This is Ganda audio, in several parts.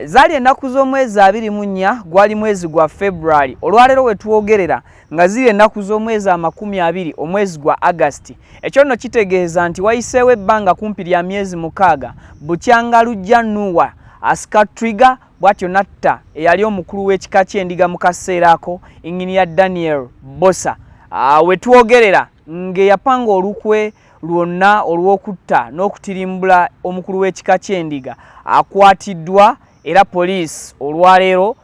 zaali ennaku z'omwezi abiri mu nnya gwali mwezi gwa february olwaleero we twogerera nga ziri ennaku z'omwezi amakumi abiri omwezi gwa agasti ekyo nno kitegeeza nti wayiseewo ebbanga kumpi lya myezi mukaaga bukyanga lujja nuwa asika trigger bwatyo natta eyali omukulu w'ekika ky'endiga mu kaseera ako inginiya daniel bosa ah, wetwogerera ng'eyapanga olukwe lwonna olw'okutta n'okutirimbula omukulu w'ekika ky'endiga akwatiddwa era poliisi olwaleero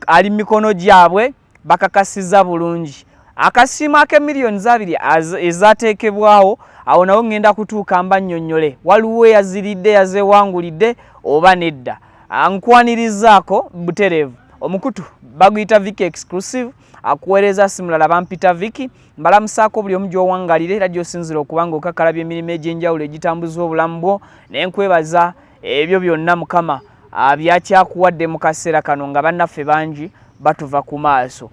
ali mu mikono gyabwe bakakasiza bulungi akasiimo ake miliyoni zabiri ezateekebwawo awo nawo ŋŋenda kutuuka mba nnyonnyole waliwo eyaziridde yazewangulidde oba nedda ah, nkwanirizaako butereevu omukutu baguyita viki exclusive akuweereza simulala bampita viki mbalamusaako buli omu gyowangalira era gyosinzira okuba nga okakalabya emirimu egy'enjawulo egitambuzibwa obulamu bwo naye nkwebaza ebyo byonna mukama abyakyakuwadde mu kaseera kano nga bannaffe bangi batuva ku maaso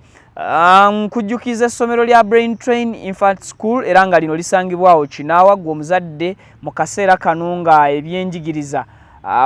nkujjukiza essomero lya brain train infant school era nga lino lisangibwawo kinaawa gwe omuzadde mu kaseera kano nga ebyenjigiriza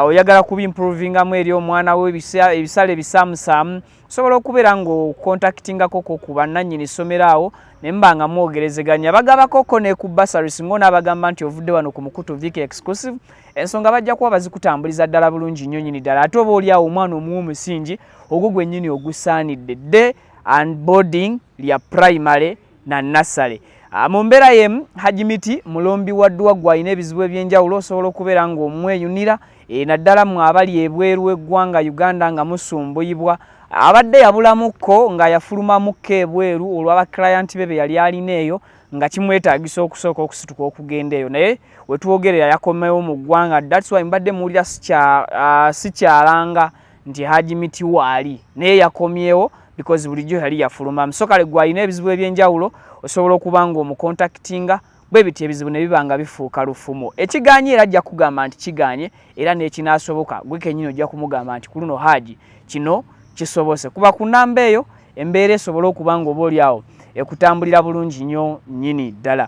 oyagala kubimprovingamu eri omwana we ebisale ebisaamusaamu osobola okubeera ng'okontakitingako ko ku bannannyini ssomero awo ne mba nga mwogerezeganya bagabako ko ne ku basaris ng'onaabagamba nti ovudde wano ku mukutu vik exclusive ensonga bajja kuba bazikutambuliza ddala bulungi nnyo nyini ddala ate oba oli awo omwana omuwa omusingi ogwo gwennyini ogusaanidde dde and boarding lya primary na nassale ah, mu mbeera yemu hajji miti mulombi wa ddwa gwalina ebizibu ebyenjawulo osobola okubeera ng'omweyunira eh, naddala mu abali ebweru w'eggwanga uganda nga musumbuyibwa abadde yabulamukko nga yafulumamukko ebweru olw'abakirayanti be be yali alina eyo nga kimwetaagisa okusooka okusituka okugenda eyo naye wetwogerera yakomewo mu ggwanga dats wy mbadde muwulira sikyalanga ah, nti haji miti waali naye yakomyewo because bulijjo yali yafuluma msokale gwalina ebizibu ebyenjawulo osobola okuba nga omukontaktinga bwe biti ebizibu ne biba nga bifuuka lufumo ekiganye era ajja kugamba nti kiganye era n'ekinaasoboka gwe kenyini ojja kumugamba nti ku luno haji kino kisobose kuba ku namba eyo embeera esobole okuba nga oba oli awo ekutambulira bulungi nnyo nnyini ddala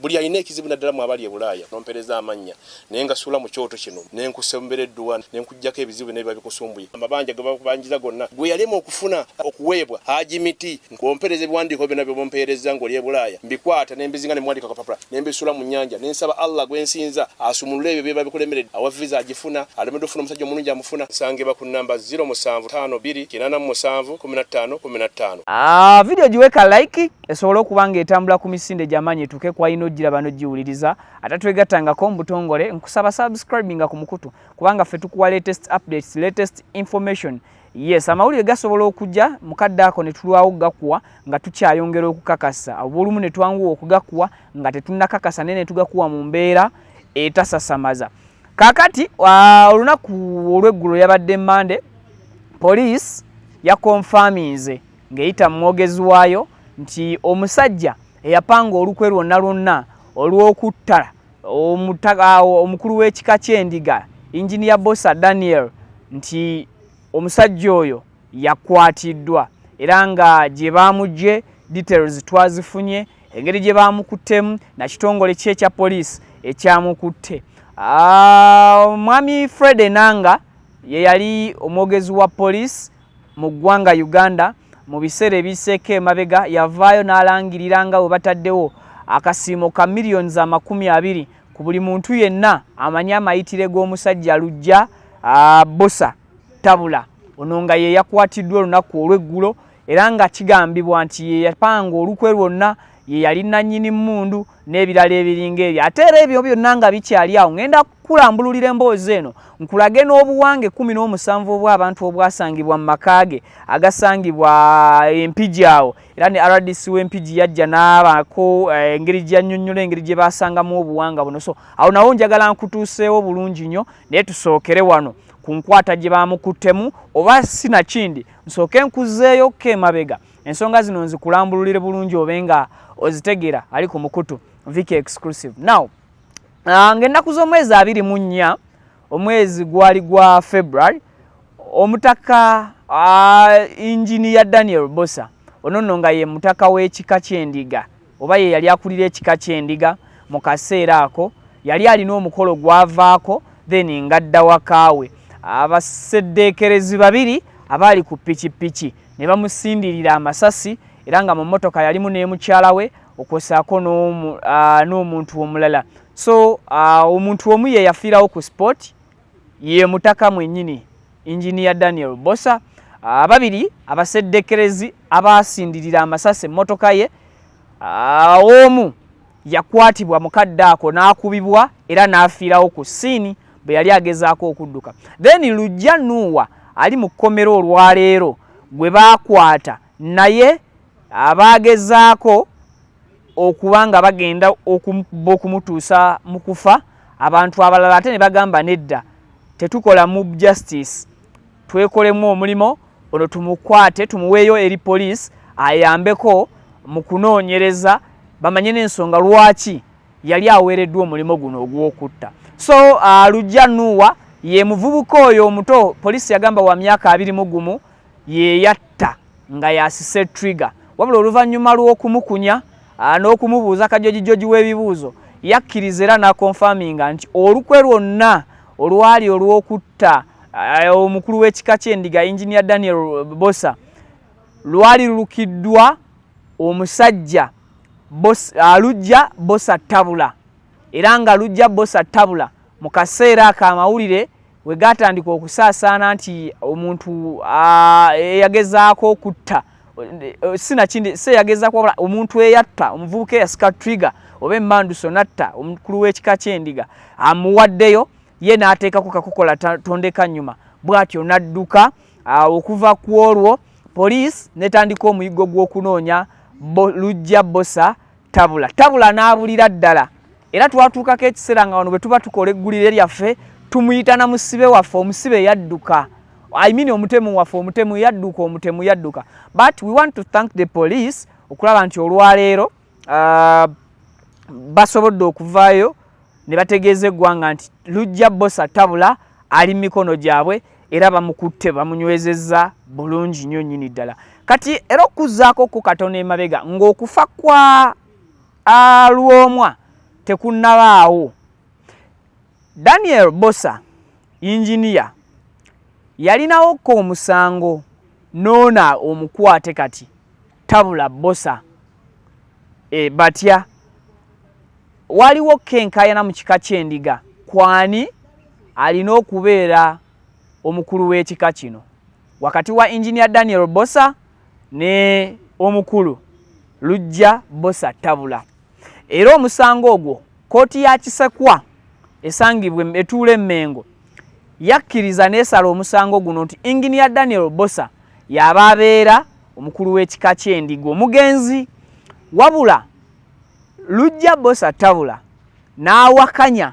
buli alina ekizibu naddala mu abali e bulaaya nompereza amannya naye nga suula mu kyoto kino ne nkusembera edduwa ne nkuggyako ebizibu byonna biba bikusumbuye amabanja ge bakubanjiza gonna gwe yalema okufuna okuweebwa haji miti nkompereza ebiwandiiko byonna bye bumpeerezza ng'oli e bulaaya mbikwata ne mbizinga ne muwandika kapapula ne mbisuula mu nnyanja ne nsaba allah gwe nsinza asumulule ebyo byeba bikulemeredde awa viza agifuna alemedde okufuna omusajja omulungi amufuna nsangibwa ku nnamba 0 musanvu tano bbiri kinaana mu musanvu kumi na ttaano kumi na ttaano ah, vidiyo giweka like esobole okuba ng'etambula ku misinde gy'amaanyi etuuke ku alina ojjira bano giwuliriza ate twegattangako mu butongole nkusaba subscribinga ku mukutu kubanga ffe tukuwa latest updates latest information yes amawulire gasobola okujja mukadde ako ne tulwawo okugakuwa nga tukyayongera okukakasa obulumu ne twanguwa okugakuwa nga tetunnakakasa naye ne tugakuwa mu mbeera etasasamaza kaakati olunaku olw'eggulo yabadde mande poliisi yakonfaminze ng'eyita mu mwogezi waayo nti omusajja eyapanga olukwe lwonna lwonna olw'okutta omukulu w'ekika ky'endiga inginiya bosa daniel nti omusajja oyo yakwatiddwa era nga gye baamugye details twazifunye engeri gye baamukuttemu nakitongole ki ekya poliisi ekyamukutte omwami ah, fred enanga ye yali omwogezi wa poliisi mu ggwanga Uganda mu biseera ebiseeko emabega yavaayo n'alangirira nga we bataddewo akasiimo ka miliyoni za makumi abiri ku buli muntu yenna amanyi amayitire g'omusajja lujja bosa tabula ono nga ye yakwatiddwa olunaku olw'eggulo era nga kigambibwa nti ye yapanga olukwe lwonna ye yali nannyini mmundu n'ebirala ebiringa ebyo ate era ebyo byonna nga bikyali awo ŋenda kukulambululira emboozi eno nkulage n'obuwanga ekkumi n'omusanvu obw'abantu obwasangibwa mu maka ge agasangibwa eh, empigi awo era ne rdc w'empigi yajja n'abaako eh, engeri gyanyonnyola engeri gye baasangamu obuwanga buno so awo nawo njagala nkutuuseewo bulungi nnyo naye tusookere wano ku nkwata gye baamukuttemu oba sinakindi nsooke nkuzeeyokko emabega ensonga zino nzikulambululire bulungi obe nga ozitegera ali ku mukutu viki exclusive now ah, ngaennaku z'omwezi abiri mu nnya omwezi gwali gwa february omutaka ah, inginiya daniel bosa ono nno nga ye mutaka w'ekika ky'endiga oba ye yali akulira ekika ky'endiga mu kaseera ako yali alina omukolo gwavaako then ngadda wakaawe abaseddeekerezi babiri abaali ku pikipiki ne bamusindirira amasasi era nga mu mmotoka yalimu ne mukyala we okwosaako n'omuntu omulala so omuntu omu ye yafiirawo ku sport ye mutaka mwenyini Engineer Daniel Bosa ababiri abaseddekerezi abaasindirira amasasi emmotoka ye omu yakwatibwa mukadde ako n'akubibwa era n'afiirawo ku siini bwe yali agezaako okudduka then lujja nuuwa ali mu kkomera olwaleero gwe baakwata naye abaagezaako okuba nga bagenda okuba okumutuusa mu kufa abantu abalala ate ne bagamba nedda tetukola mu justice twekolemu omulimu ono tumukwate tumuweeyo eri poliisi ayambeko mu kunoonyereza bamanye n'ensonga lwaki yali aweereddwa omulimu guno ogw'okutta so uh, lujja nuuwa ye muvubuka oyo omuto poliisi yagamba wa myaka abiri mu gumu yeyatta nga yasise trigger wabula oluvannyuma lw'okumukunya ah, n'okumubuuza kajojijoji w'ebibuuzo yakkiriza era n'akonfaminga nti olukwe lwonna olwali olw'okutta ah, omukulu w'ekika ky'endiga enginia daniel bosa lwali lulukiddwa omusajja alujja ah, bosa tabula era nga lujja bosa tabula mu kaseera ako amawulire we gaatandika okusaasaana nti omuntu eyagezaako okutta sinakindi se yagezaako wabula omuntu eyatta omuvubuka eyasika trigger oba emmanduso natta omukulu w'ekika ky'endiga amuwaddeyo ye n'ateekako kakukola tondeka nnyuma bw'atyo n'adduka okuva ku olwo poliisi netandika omuyiggo gw'okunoonya lujja bosa tabula tabula n'abulira ddala era twatuukako ekiseera nga wano bwe tuba tukola eggulire lyaffe tumuyita na musibe waffe omusibe yadduka I mean omutemu waffe omutemu yadduka omutemu yadduka but we want to thank the police okulaba nti olwaleero uh, basobodde okuvaayo ne bategeeza eggwanga nti lujja bosa tabula ali mu mikono gyabwe era bamukutte bamunywezezza bulungi nnyo nnyini ddala kati era okuzzaako ku katono emabega ng'okufa kwa A Lwomwa tekunnabaawo, Daniel Bbosa yinginiya yalinawo ko omusango noona omukwate kati tabula Bbosa e, batya waliwo kenkayana mu kika ky'endiga kwani alina okubeera omukulu w'ekika kino. wakati wa engineer Daniel Bosa ne omukulu Lujja Bosa Tabula era omusango ogwo kooti ya Kisekwa esangibwa etuula emengo yakkiriza n'esala omusango guno nti engineer Daniel Bosa yaba abeera omukulu w'ekika ky'endiga omugenzi wabula Lujja Bosa Tabula n'awakanya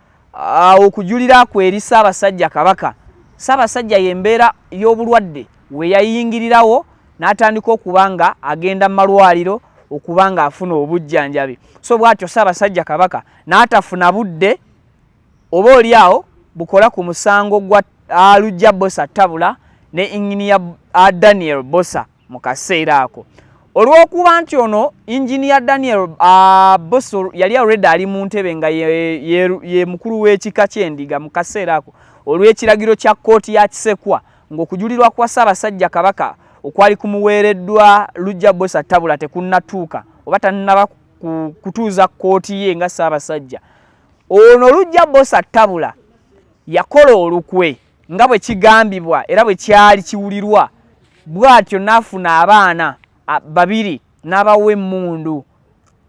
ah, okujulira kwe eri ssaabasajja kabaka ssaabasajja yembeera y'obulwadde weyayingirirawo n'atandika okuba nga agenda mu malwaliro okuba nga afuna obujjanjabi so bwatyo ssaabasajja kabaka n'atafuna budde oba oli awo bukola ku musango gwa alujja bosa tabula ne inginiya daniel bosa mu kaseera ako olw'okuba nti ono engineer daniel uh, busur yali already ali mu ntebe nga ye, ye, ye mukulu w'ekika ky'endiga mu kaseera ako olw'ekiragiro kya kkooti ya kisekwa ng'okujulirwa kwa ssaabasajja kabaka okwali kumuweereddwa lujja bosa tabula tekunnatuuka oba tannaba kutuuza kkooti ye nga ssaabasajja ono lujja bosa tabula yakola olukwe nga bwe kigambibwa era bwe kyali kiwulirwa bw'atyo n'afuna abaana babiri n'abawa emmundu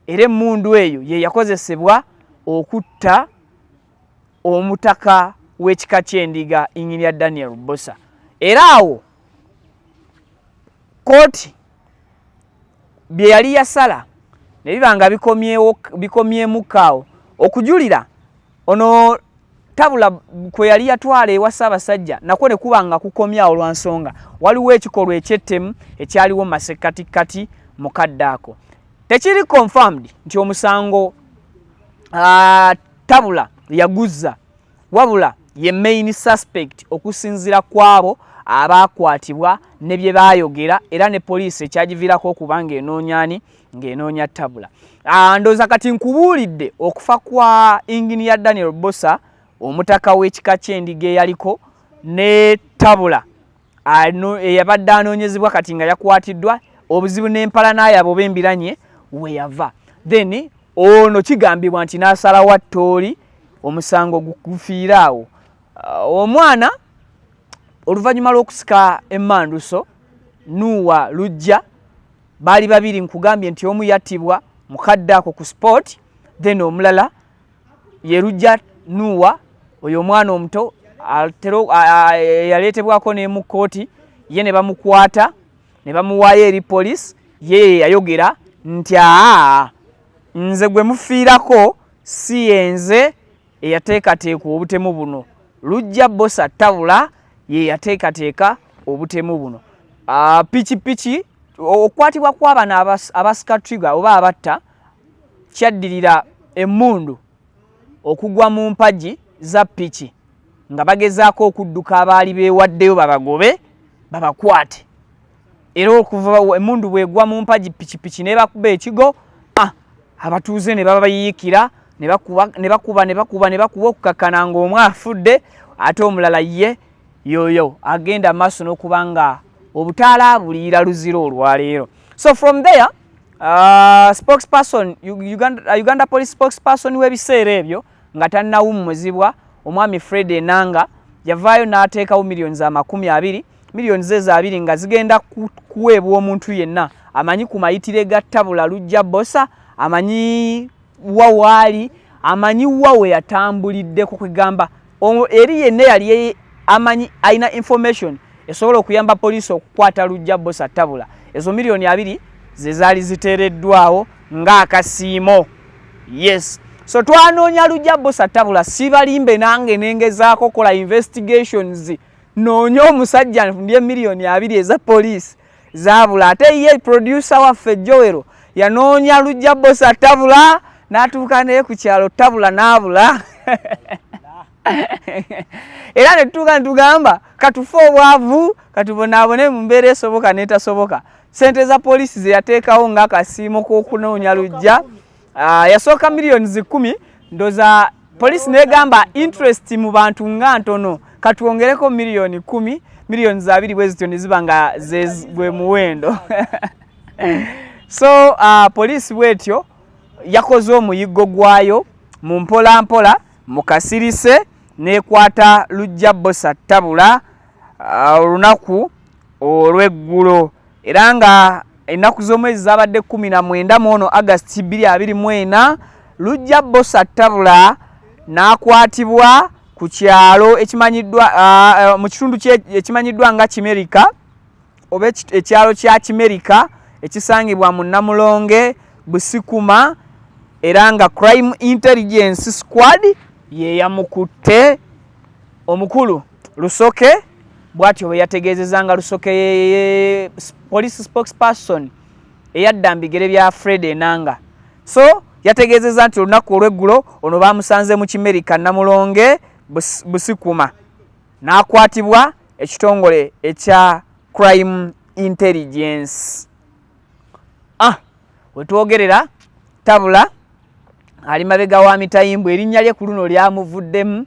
era emmundu eyo ye yakozesebwa okutta omutaka w'ekika ky'endiga inyirya daniel bosa era awo kooti bye yali yasala ne biba nga bikomyemuko awo okujulira ono tabula kwe yali yatwala ewa ssaabasajja nakwo ne kuba nga kukomyawo lwa nsonga waliwo ekikolwa ekyettemu ekyaliwo mu masekkatikkati mu kadde ako tekiri confirmed nti omusango uh, tabula yaguzza wabula ye main suspect okusinzira kwabo abaakwatibwa ne bye baayogera era ne poliisi ekyagiviirako okuba ng'enoonyani ng'enoonya tabula ah, ndooza kati nkubuulidde okufa kwa ingini ya daniel bosa omutaka w'ekika ky'endiga eyaliko ne tabula eyabadde anoonyezebwa kati nga yakwatiddwa obuzibu n'empala n'ayabo oba embiranye weyava then ono kigambibwa nti n'asalawo attooli omusango gufiire awo ah, omwana oluvannyuma lw'okusika emmanduso nuuwa lujja baali babiri nkugambye nti omu yattibwa mukadde ako ku sport then omulala yerujja nuwa oyo omwana omuto yaleetebwako nemu kkooti ye ne bamukwata ne bamuwaayo eri police ye yayogera nti aa nze gwe mufiirako si yenze eyateekateeka obutemu buno lujja bosa tabula ye yateekateeka obutemu buno ah, pikipiki okukwatibwa kw'abana abasika trigger oba abatta kyaddirira emmundu okugwa mu mpagi za piki nga bagezaako okudduka abaali beewaddeyo babagobe babakwate era okuva emundu bwegwa mu mpagi pikipiki nebakuba ekigo ah, abatuuze ne baba bayiyikira ne bakuba ne bakuba ne bakuba ne bakuba okukakkana ng'omu afudde ate omulala ye yoyo agenda maaso n'okuba nga obutaala buliira luzira olwaleero so from there uh, spokesperson Uganda, uh, Uganda police spokesperson w'ebiseera ebyo nga tannawummuzibwa omwami fred enanga yavaayo n'ateekawo miliyoni za makumi abiri miliyoni ze za abiri nga zigenda kuweebwa omuntu yenna amanyi ku mayitire ga tabula lujja bosa amanyi wa waali amanyi wa we yatambuliddeko kwegamba eri yenna yali amanyi alina information esobola okuyamba poliisi okukwata lujja bosa tabula ezo miliyoni abiri ze zaali ziteereddwawo ng'akasiimo yes so twanoonya lujja busa tabula sibalimbe nange nengezaako okola investigations noonya omusajja ndye miliyoni abiri eza poliisi zabula ate ye producer waffe jowero yanoonya lujja bosa tabula n'atuuka naye ku kyalo tabula n'abula era ne tutuuka ne tugamba katufe obwavu katubonaabone mu mbeera esoboka n'etasoboka sente za poliisi ze yateekawo ng'akasiimo k'okunoonya lujja ah, yasooka miliyoni zikumi ndoza poliisi negamba interest mu bantu nga ntono katwongereko miliyoni kumi miliyoni zabiri bwe zityo ne ziba nga gwe muwendo so uh, poliisi bwetyo yakoze omuyiggo gwayo mu mpola mpola mu kasirise n'ekwata lujja bosa tabula uh, olunaku olw'eggulo era nga ennaku z'omwezi zaabadde kumi na mwenda mu ono agasti bbiri abiri mu ena lujja bosa tabula n'akwatibwa ku kyalo ekimanyiddwa uh, uh, mu kitundu ekimanyiddwa nga kimerika oba ekyalo kya kimerika ekisangibwa mu namulonge busikuma era nga crime intelligence squad yeyamukutte omukulu lusoke bwatyo bwe yategeezeza nga lusoke ye police spokesperson eyadda mbigere bya fred enanga so yategeezeza nti olunaku olweggulo ono bamusanze mu kimerika namulonge busikuma n'akwatibwa ekitongole ekya crime intelligence ah wetwogerera tabula ali mabega wa mitayimbu erinnya lye ku luno lyamuvuddemu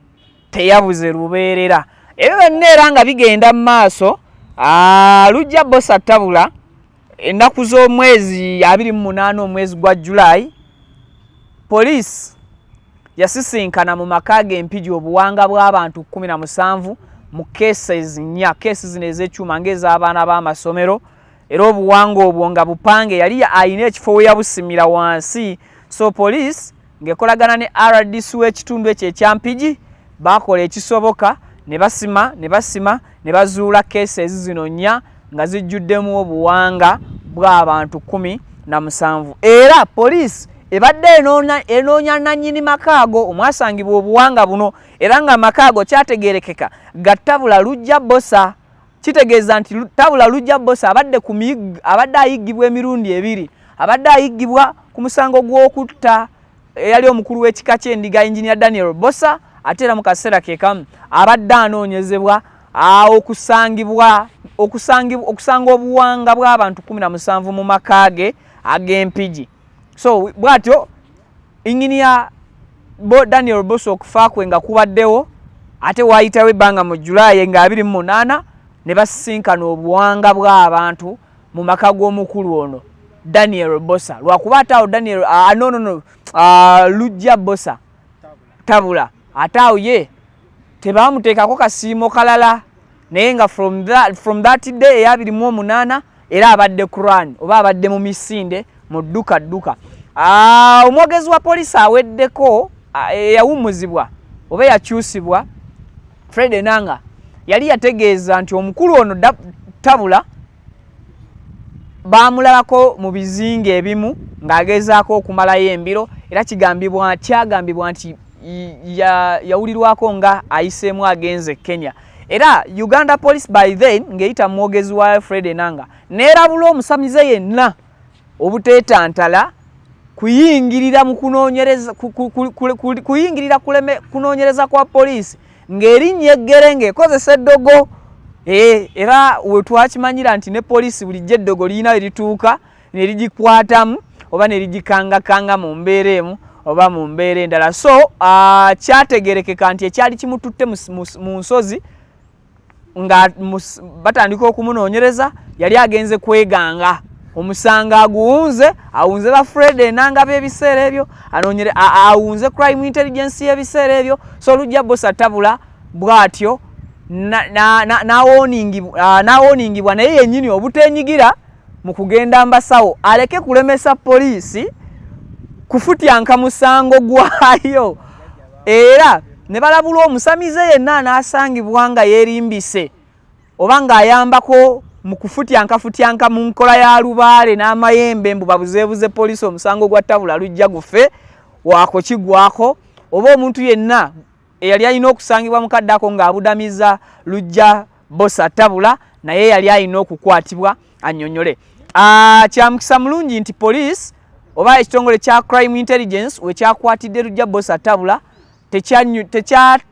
teyabuze lubeerera ebyo byonna era nga bigenda mu maaso ah, lujja bosa tabula ennaku z'omwezi abiri mu munaana omwezi gwa julayi poliisi yasisinkana mu maka ge empigi obuwanga bw'abantu kumi na musanvu mu cases nnya keesi zino ez'ekyuma ng'ez'abaana b'amasomero era obuwanga obwo nga bupange yali alina ekifo we yabusimira wansi so poliisi ng'ekolagana ne rdc w'ekitundu ekyo ekya Mpigi baakola ekisoboka ne basima ne basima ne bazuula cases zino nnya nga zijjuddemu obuwanga bw'abantu kkumi na musanvu era poliisi ebadde enoonya nannyini maka ago omwasangibwa obuwanga buno era ng'amaka ago kyategeerekeka gattabula lujja bosa kitegeeza nti tabula lujja bosa abadde abadde ayiggibwa emirundi ebiri abadde ayiggibwa ku musango gw'okutta eyali omukulu w'ekika ky'endiga enginia daniel bosa ate era mu kaseera ke kamu abadde anoonyezebwa okusangibwa okusanga obuwanga bw'abantu kumi na musanvu mu maka ge ag'empigi so bw'atyo Engineer bo Daniel Bosso okufa kwe nga kubaddewo ate waayitawo ebbanga mu Julaye nga abiri mu munaana ne basisinkana obuwanga bw'abantu mu maka g'omukulu ono Daniel Bossa lwakuba ate awo Daniel uh, no, no, no, uh, Lujja Bossa tabula ate awo ye tebaamuteekako kasiimo kalala naye nga from that, from that day eyabiri mu omunaana era abadde quran oba abadde mu misinde mu dduka dduka ah, omwogezi wa polisi aweddeko ah, eyawumuzibwa oba eyakyusibwa fred enanga yali yategeeza nti omukulu ono tabula baamulabako mu bizinga ebimu ng'agezaako okumalayo embiro era kigambibwa kyagambibwa nti yawulirwako ya nga ayiseemu agenze kenya era uganda police by then ng'eyita mwogezi wa fred enanga neerabula omusamize yenna obuteetantala kuyingirira mu kunoonyereza kuyingirira kunoonyereza kwa poliisi ng'erinnya eggere ng'ekozesa eddogo eh, era wetwakimanyira nti ne poliisi bulijjo eddogo lirina erituuka ne ligikwatamu oba ne ligikangakanga mu mbeera emu oba mu mbeera endala so ah, kyategerekeka nti ekyali kimututte mu nsozi nga batandika okumunoonyereza yali agenze kweganga omusango aguwunze awunze ba fred enanga byebiseera ebyo anonyere awunze crime intelligence yebiseera ebyo so olujja bosi atabula bwatyo nawoningibwa naye yenyini obutenyigira mu kugenda mbasawo aleke kulemesa poliisi kufutyanka musango gwayo era ne balabulwa omusamize yenna anaasangibwa nga yeerimbise oba ng'ayambako mu kufutyankafutyanka mu nkola ya lubaale n'amayembe mbu babuzeebuze poliisi omusango gwa tabula lujja gufe waako kigwako oba omuntu yenna eyali alina okusangibwa mu kaddako ng'abudamiza lujja Bosa tabula naye yali alina okukwatibwa anyonyole. Ah, kyamukisa mulungi nti police oba ekitongole kya crime intelligence wekyakwatidde lujja bosa tabula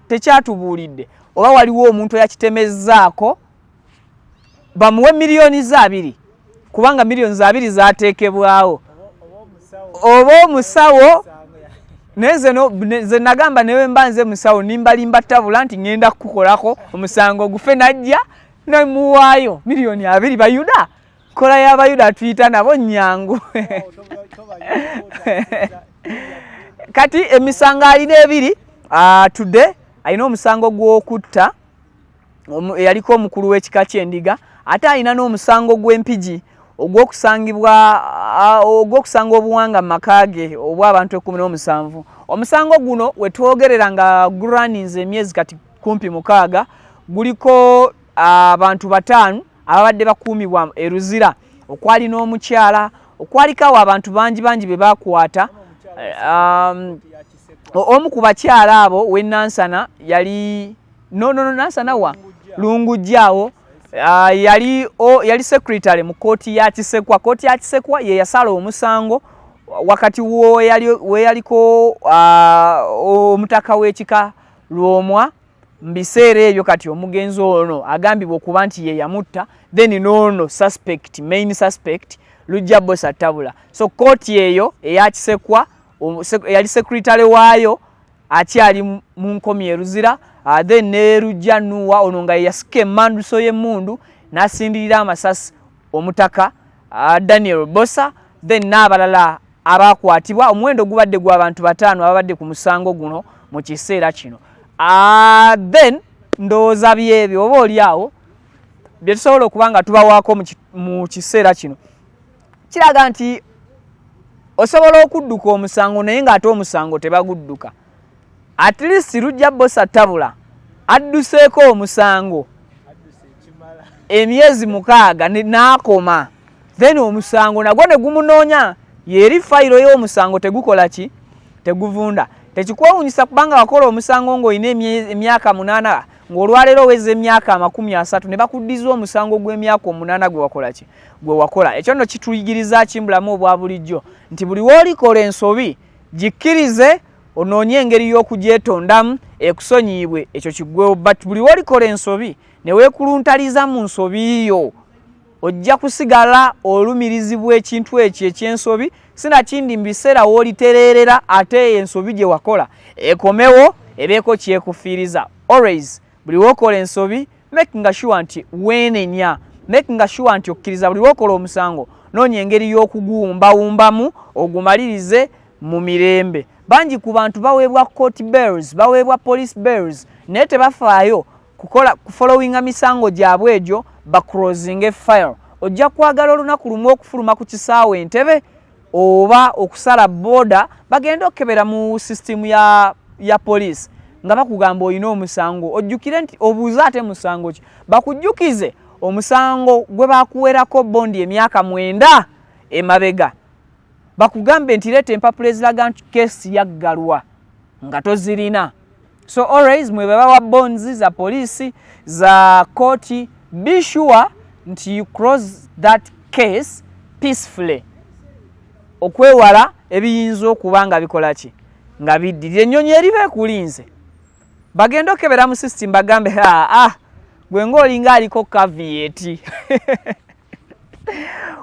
tekyatubuulidde oba waliwo omuntu eyakitemezzaako bamuwe miliyoni ze abiri kubanga millions abiri zatekebwawo oba omusawo naye nze nagamba newe mba nze musawo nimbalimba tabula nti ŋenda kukukolako omusango ogufe najja nemuwaayo miliyoni abiri bayuda kola yabayuda atuyita nabo nyangu kati emisango alina ebiri atude ah, alina omusango gwokutta eyaliko omukulu w'ekika ky'endiga ate alina n'omusango gw'empigi ogw'okusangibwa ogw'okusanga obuwanga mu maka ge obwa abantu ekkumi n'omusanvu omusango guno we twogerera nga guraninze emyezi kati kumpi mukaaga guliko abantu bataano ababadde bakuumibwa e luzira okwali n'omukyala okwaliko awo abantu bangi bangi be bakwata um, omu ku bakyala abo w'enansana yali no no no nasa nawa lungujjawo uh, yali o, yali secretary mu koti ya kisekwa koti ya kisekwa ye yasala omusango wakati wo yali we yaliko uh, omutaka wekika lwomwa mbiseere ebyo kati omugenzi ono agambibwa okuba nti ye yamutta then nono suspect main suspect lujja boss atabula so koti eyo eya kisekwa yali secretary wayo akyali mu nkomi e Luzira uh, then ne Lujja Nuwa ono nga yeyasika emanduso y'emmundu n'asindirira amasasi omutaka uh, Daniel Bosa then n'abalala abaakwatibwa omuwendo gubadde gw'abantu bataano ababadde ku musango guno mu kiseera kino uh, then ndowooza byebyo oba oli awo bye tusobola okuba nga tubawaako mu kiseera kino kiraga nti osobola okudduka omusango naye ng'ate omusango tebagudduka at least lujja bosa tabula adduseeko omusango emyezi mukaaga n'akoma then omusango nagwo ne gumunoonya yeeri fayiro y'omusango tegukola ki teguvunda tekikwewunyisa kubanga wakola omusango ng'olina emyaka munaana ng'olwaleero oweza emyaka amakumi asatu ne bakuddiza omusango gw'emyaka omunaana gwe wakola ki gwe wakola ekyo nno kituyigiriza ki mubulamu obwa bulijjo nti buli woolikola ensobi gikkirize onoonye engeri y'okugyetondamu ekusonyiyibwe ekyo kiggwewo but buli wolikola ensobi ne weekuluntaliza mu nsobi yo ojja kusigala olumirizibwa ekintu ekyo eky'ensobi sinakindi mu biseera woolitereerera ate eyo ensobi gye wakola ekomewo ebeeko kyekufiiriza always buli wokola ensobi makinga sure nti wenenya makinga sure nti okkiriza buli wokola omusango noonya engeri y'okuguwumbawumbamu ogumalirize mu mirembe bangi ku bantu baweebwa court bells baweebwa police bells naye tebafaayo kukola kufollowinga misango gyabwe egyo bacrosinge file ojja kwagala olunaku lumu okufuluma ku kisaawe entebe oba okusala boda bagenda okukebera mu system ya, ya police nga bakugamba olina omusango ojjukire nti obuuze ate musango ki bakujjukize omusango gwe bakuwerako bondi emyaka mwenda emabega bakugambe nti leeta empapula eziraga nti kesi yaggalwa nga tozirina so always mwe babawa bonds za police za koti be sure nti you cross that case peacefully okwewala ebiyinza okuba nga bikola ki nga biddirira ennyonyi eriba ekulinze bagenda okebera mu system bagambe aa ah, ah, gwe ngaolinga aliko kavieti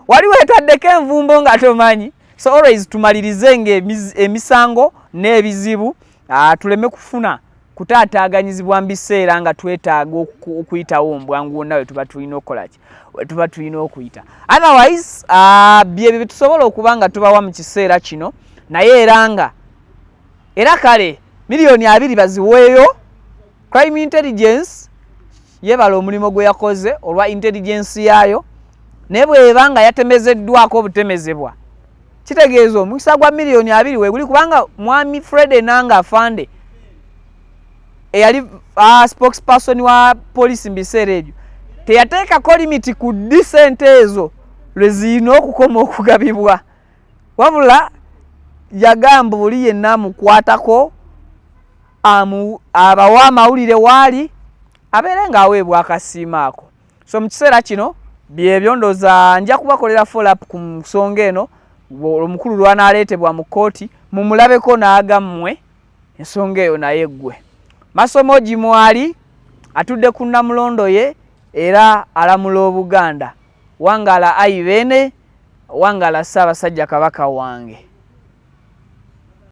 wali wetaddeko envumbo nga tomanyi so always tumalirize nga emisango n'ebizibu ah, tuleme kufuna kutaataaganyizibwa mu biseera nga twetaaga okuyitawo mbwangu wonna wetuba tulina okukolaki wetuba tulina okuyita otherwise ah, byebyo byetusobola okuba nga tubawa mu kiseera kino naye era nga era kale miliyoni abiri baziweeyo crime intelligence yebala omulimu gwe yakoze olwa intelligensi yaayo naye bweba nga yatemezeddwako obutemezebwa kitegeeza omukisa gwa miliyoni abiri weguli kubanga mwami fred enanga afande eyali uh, spokesperson wa poliisi mu biseera ebyo teyateekako limiti ku ddi sente ezo lwe zirina okukoma okugabibwa wabula yagamba oli yenna amukwatako abawa amawulire waali abeere ng'aweebwa akasiima ako so mu kiseera kino byebyo ndoza nja kubakolera follup ku nsonga eno omukulu lwanaaleetebwa mu kkooti mumulabeko n'agammwe ensonga eyo naye ggwe masomo gi mwali atudde ku namulondo ye era alamula obuganda wangala ayi beene wangala ssaabasajja kabaka wange